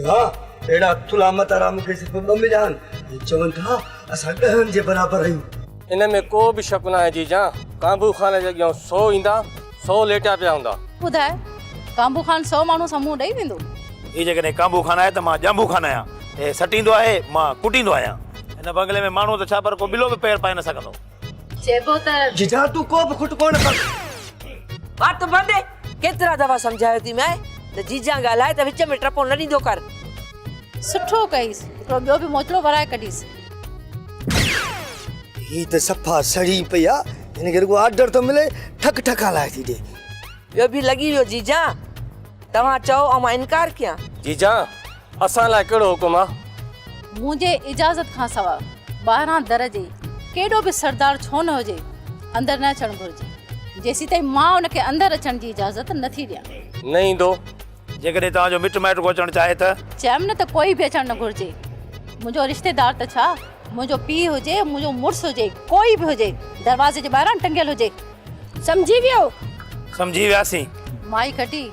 ها، اهڙا ٿلها متارا مون کي صرف ٻه مليا آهن، ۽ چون ٿا، اسان ڏهن جي برابر آهيون. ان ۾ ڪو به شڪ ناهي جيجان، ڪانڀو خان جي اڳيان سو ايندا، سو ليٽيا پيا هوندا. ٻڌاء، ڪانڀو خان سو ماڻهو سان منهن ڏئي ويندو؟ هي جيڪڏهن ڪانڀو خان آهي ته مان ڄانڀو خان آهيان. هي سٽيندو آهي، مان ڪٽيندو آهيان. هن بنگلي ۾ ماڻهوء ته ڇا پر ڪو ٻلو به پير پائي نه سگهندو. چئبو ته جيجان تون ڪو به کٽ ڪونه ڪر. وات بند. ڪيترا دفعا سمجهايو ٿي مئي ته جيجان ڳالهائي ته وچ ۾ ٽپو نه ڏيندو ڪر. سٺو ڪئيس هڪڙو ٻيو به موچڙو ورائي ڪڍيس. هي ته صفا سڙي پئي آ هن کي رڳو آرڊر ٿو ملي ٺڪ ٺڪان لاهي ٿي ڏي. ٻيو به لڳي ويو جيجان توهان چئو ۽ مان انڪار ڪيان. جيجان اسان لاء ڪهڙو حڪم آ؟ منهنجي اجازت کان سوا ٻاهران در جي ڪيڏو به سردار ڇو نه هجي، اندر نه اچڻ گهرجي، جيسيتائين مان ان کي اندر اچڻ جي اجازت نه ٿي ڏيان. نه ايندو، جيڪڏهن توهان جو مٽ مائٽ ڪو اچڻ چاهي ته. چيم نه ته ڪوئي به اچڻ نه گهرجي، منهنجو رشتيدار ته ڇا، منهنجو پيء هجي، منهنجو مڙس هجي، ڪوئي به هجي، دروازي جي ٻاهران ٽنگيل هجي. سمجهي ويو؟ سمجهي وياسين. مائي کٽي،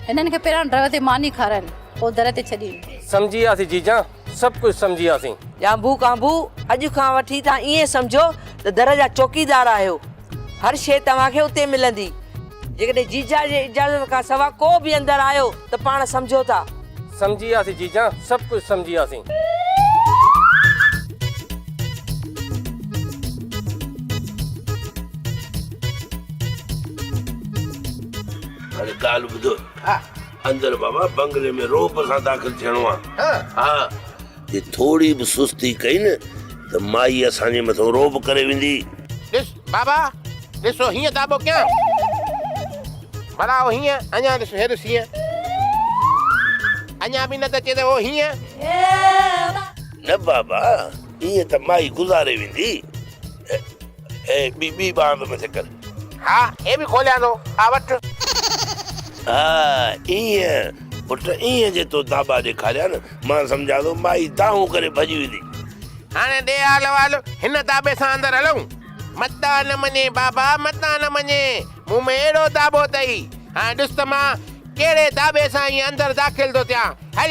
هنن کي پهريان ڊرئيور تي ماني کارائين، پوء در تي ڇڏين. سمجهي وياسين جيجان، سڀ ڪجهه سمجهي وياسين. ڄانڀو ڪانڀو، اڄ کان وٺي توهان ائين سمجهو ته در جا چوڪيدار آهيو. هر شيء توهان کي اتي ملندي. جيڪڏهن جيجا جي اجازت کان سوا ڪو به اندر آيو ته پاڻ سمجهو ٿا. سمجهي وياسين جيجان سڀ ڪجهه سمجهي وياسين. هاڻي ڳالهه ٻڌو. اندر بابا بنگلي ۾ روپ سان داخل ٿيڻو آ. ها. جي ٿوري به سستي ڪئي نه ته مائي اسان جي مٿو رعب ڪري ويندي. ڏس بابا ڏس او هيئن داٻو ڪيان ڀلا او هيئن اڃان ڏس هيڏس هيئن اڃان به نه ته چي ته او هيئن. نه بابا ايئن ته مائي گذاري ويندي. اي ٻي ٻي ٻانهن به مٿي ڪر. ها هي به کوليان ٿو آ وٺ. ها ايئن پٽ ايئن جي تو داٻا ڏيکاريا نه مان سمجهان ٿو مائي دانهون ڪري ڀڄي ويندي. هاڻي ڏي آل وال هن داٻي سان اندر هلون. متان نه مڃين بابا متان نه مڃين مون ۾ اهڙو داٻو اٿئي هاڻي ڏس ته مان ڪهڙي داٻي سان ايئن اندر داخل ٿو ٿيان هل.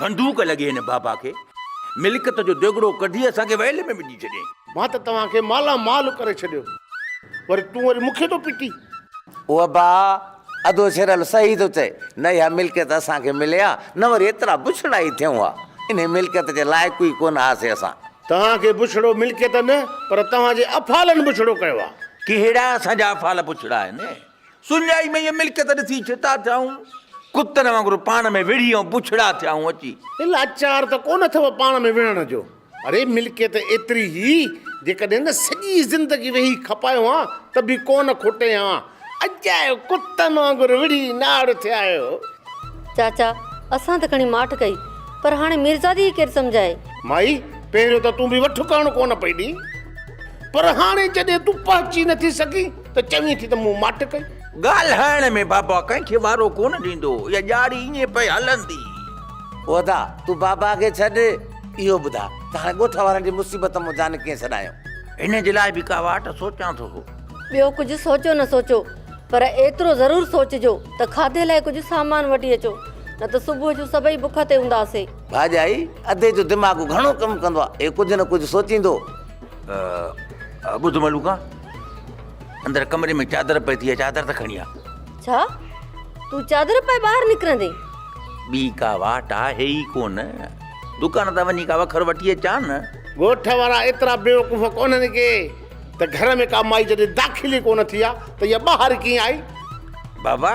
بندوق لڳي هن بابا کي ملڪيت جو ديڳڙو ڪڍي اسان کي ويل ۾ وجهي ڇڏيائين. مان ته توهان کي مالا مال ڪري ڇڏيو وري تون وري مون کي ٿو پٽين. وبا ادو ڇرل صحيح ٿو چئي نه اها ملڪيت اسان کي ملي ها نه وري ايترا بڇڙا ئي ٿيون ها انهي ملڪيت جي لائق ئي ڪونه هئاسي اسان. توهان کي بڇڙو ملڪيت نه پر توهان جي افعالن بڇڙو ڪيو آهي. ڪهڙا اسان جا افعال بڇڙا آهن. سڃائي ۾ اهي ملڪيت ڏسي ڇتا ٿيائون، ڪتن وانگر پاڻ ۾ وڙهي ۽ بڇڙا ٿيائون اچي. لاچار ته ڪونه اٿئو پاڻ ۾ وڙهڻ جو، اڙي ملڪيت ايتري هئي، جيڪڏهن نه سڄي زندگي ويهي کپايو هان ته به ڪونه کوٽي هان، اڄ آهيو ڪتن وانگر وڙهي ناڙ ٿيا آهيو. چاچا، اسان ته کڻي ماٺ ڪئي، پر هاڻي ميرزادي ئي ڪير سمجهائي. مائي، پهريون ته تون به وٺڪاڻو ڪونه پئي ڏئين، پر هاڻي جڏهن تون پهچي نٿي سگهين، ته چوين ٿي ته مون ماٺ ڪئي. ڳالهائڻ ۾ بابا ڪنهن کي وارو ڪونه ڏيندو هو. اها ڄاڙي ائين پئي هلندي. هودا، تون بابا کي ڇڏ، اهو ٻڌاء ته هاڻي ڳوٺ وارن جي مصيبت مان جان ڪيئن ڇڏايون؟ هن جي لاء به ڪا واٽ سوچيان ٿو هو. ٻيو ڪجهه سوچو نه سوچو پر ايترو ضرور سوچجو ته کاڌي لاء ڪجهه سامان وٺي اچو نه ته صبح جو سڀئي بک تي هونداسي. ڀاڄائي ادي جو دماغ گهڻو ڪم ڪندو آهي. هي ڪجهه نه ڪجهه سوچيندو. ٻڌ ملوڪا! اندر ڪمري ۾ چادر پئي ٿي چادر ته کڻي آ ڇا تون چادر پائي ٻاهر نڪرندي ٻي ڪا واٽ آهي ئي ڪون دڪان تان وڃي ڪا وکر وٺي اچان نه ڳوٺ وارا ايترا بيوقوف ڪونهن ڪي ته گهر ۾ ڪا مائي جڏهن داخل ئي ڪونه ٿي آ ته اها ٻاهر ڪيئن آئي بابا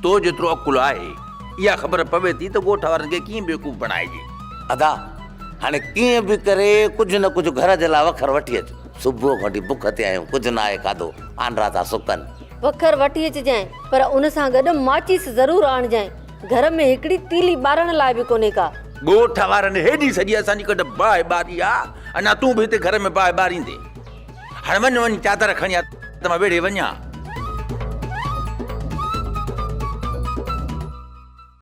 تو جيترو عقل آهي اها خبر پوي ٿي ته ڳوٺ وارن کي ڪيئن بيوقوف بڻائجي ادا هاڻي ڪيئن به ڪري ڪجهه نه ڪجهه گهر جي لاء وکر وٺي اچ صبح کان وٺي بک تي آهيون، ڪجهه نه آهي کاڌو، آنڊا ٿا سڪن. وکر وٺي اچجانء، پر ان سان گڏ ماچيس ضرور آڻجانء، گهر ۾ هڪڙي تيلي ٻارڻ لاء به ڪونهي ڪا. ڳوٺ وارن هيڏي سڄي اسان جي ڪڍ باهه ٻاري آ، اڃا تون به هتي گهر ۾ باهه ٻاريندين؟ هاڻ وڃ وڃ چادر کڻي آ ته مان ويڙهي وڃان.